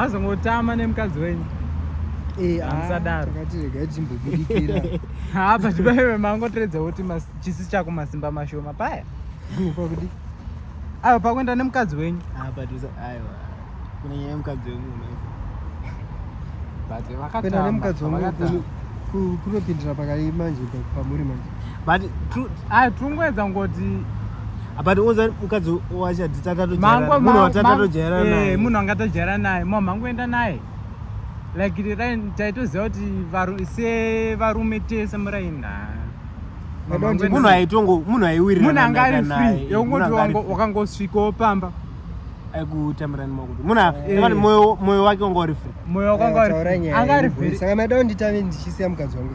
azongotama nemukadzi wenyu eh, ah, musadaro haa pachibaiwe mangotoredza kuti chisi chako masimba mashoma paya aiwa pakuenda nemukadzi wenyu kunopindira pakadii manje pamuri manje but ah, tungoedza ngoti ah, but unza mukadzi wachati tatatojairamunhu watatojaira naye eh, munhu anga tojaira naye mama angoenda naye like taitoziva kuti sevarume tese muraini munhu aitongo munhu aiwiriramunhu anga ari free yokungoti wakangosvikawo pamba aikutambiranni makuti muna eh. moyo wake wanga uri free moyo wake wanga uri free anga ari free saka maida kunditave ndichisiya mukadzi wangu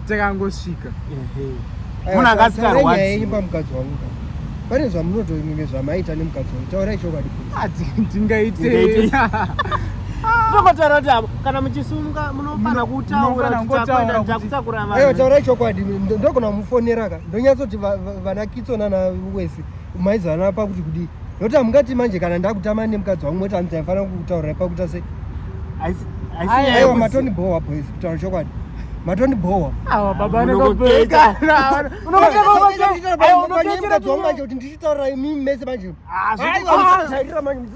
takangosvika munhu akasikarwaimba mukadzi wangu pane zvamunotoimwe zvamaita nemukadzi wangu taurai chokwadi ah, tingaitei tokotaura kuti avo kana muchisumuka munofanira kutauraakutakura vanhu taurai chokwadi ndogona kumufonera ka ndonyatsoti vanakitso nana wese maizana pakuti kudii nokuti hamungati manje kana ndakutama nemukadzi wangu moti hanzi aifanira kutaurira pakuita sei aiwa matoni bhowa boys kutaura chokwadi matoni bhowa manje kuti ndichitaurira imimi mese manje